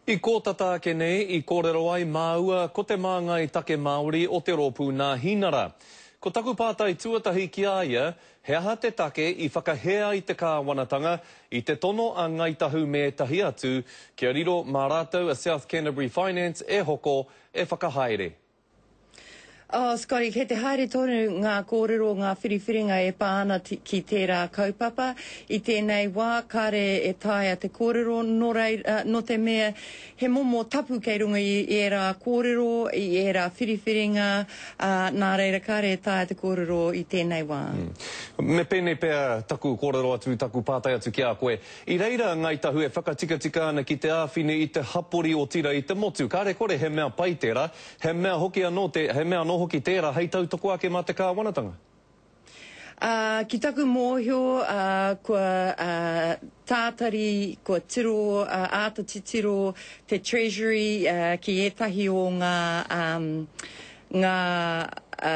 I kō tata ake nei i kōrero ai māua ko te māngai take Māori o te rōpū Nāhinara. Ko taku pātai tuatahi ki a ia, he aha te take i whakahē ai te kāwanatanga i te tono a Ngāi Tahu me ētahi atu kia riro mā rātou a South Canterbury Finance e hoko, e whakahaere? Oh, Scotty, kei te haere tonu ngā kōrero, ngā whiriwhiringa e pā ana ki tērā kaupapa. I tēnei wā, kāre e taea te kōrero, nō reira, nō te mea, he momo tapu kei runga i ērā kōrero, i ērā whiriwhiringa, ā, nā reira, kāre e taea te kōrero i tēnei wā. Mm. Me pēnei pea taku kōrero atu, taku pātai atu ki a koe, I reira a Ngāi Tahu e whakatikatika ana ki te āwhina i te hapori otirā i te motu. Kāre kore he mea pai tērā, he mea hoki anō te, he mea anō hoki tērā hei tautoko ake mā te Kāwanatanga. Ā, ki taku mōhio, ā, kua, ā, tātari, kua tiro, ā, āta titiro te Treasury, ā, ki ētahi o ngā, ā, ngā, ā,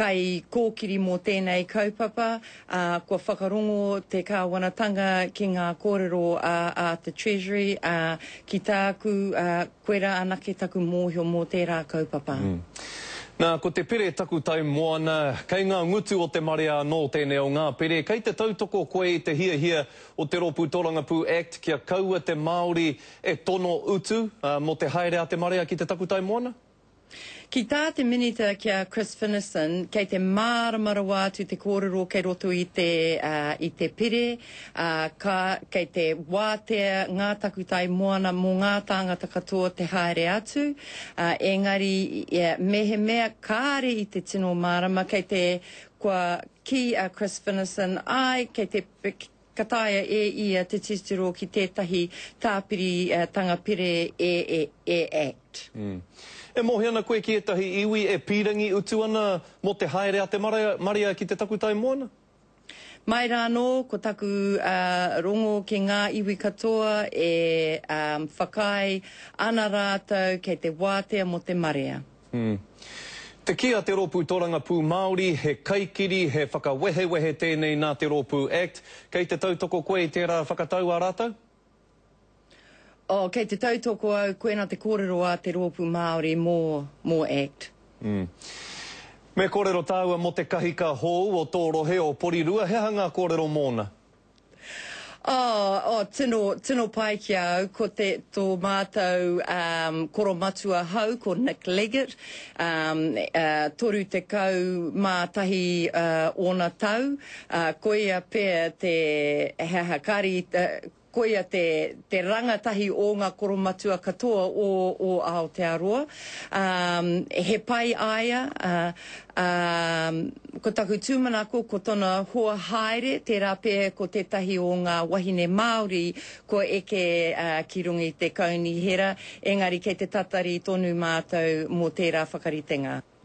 kaikōkiri mō tēnei kaupapa. ā, kua whakarongo te Kāwanatanga ki ngā kōrero a, a te Treasury, ā, ki tāku, ā, koirā anake taku mōhio mō tērā kaupapa. Mm. Nā, ko te pere taku tau moana, kei ngā ngutu o te marea anō tēnei o ngā pere, kei te tautoko koe i te hiahia o te Rōpū Tōrangapū Act kia kaua te Māori e tono utu, ā, mō te haere a te marea ki te takutai moana? Ki tā te Minita ki a Chris Finnieston, kei te mārama rawa atu te kōrero kei roto i te i te pire, ā, ka, kei te wātea ngā takutai moana mō ngā tāngata katoa te haere atu, ā, engari mehemea kāre i te tino mārama, kei te, kua kī a Chris Finnieston, āe, kei te, Ka taea e ia te titiro ki tētahi tāpiritanga pire e Act. E mohi ana koe ki ētahi iwi e pīrangi utu ana mō te haere a te marea ki te takutai moana? Mai rā anō, ko taku rongo ki ngā iwi katoa e whakaae ana rātou kei te wātea mō te marea. Te kī a te Rōpū Tōrangapū Māori, he kaikiri, he whakawehewehe tēnei nā te rōpū act. Kei te tautoko koe i tērā whakatau a rātou? Oh, kei te tautoko au, koina te kōrero a te rōpū Māori mō, mō act. Me kōrero tāua mō te kahika hōu o tō rohe o Porirua, he aha ngā kōrero mōna? Oh, oh, tino, tino pai ki a au, ko te tō mātou um, koro matua hau, ko Nick Leggett, um, uh, toru te kau mā tahi uh, ōna tau, uh, koia pea te, he aha, kāri, uh, koia te, te rangatahi o ngā koromatua katoa o, o Aotearoa. Um, he pai aia, uh, Ā, ko taku tūmanako, ko tona hoa haere, tērā pea ko tētahi o ngā wahine Māori kua eke ki runga i te kaunihera, engari kei te tatari tonu mātou mō tērā whakaritenga.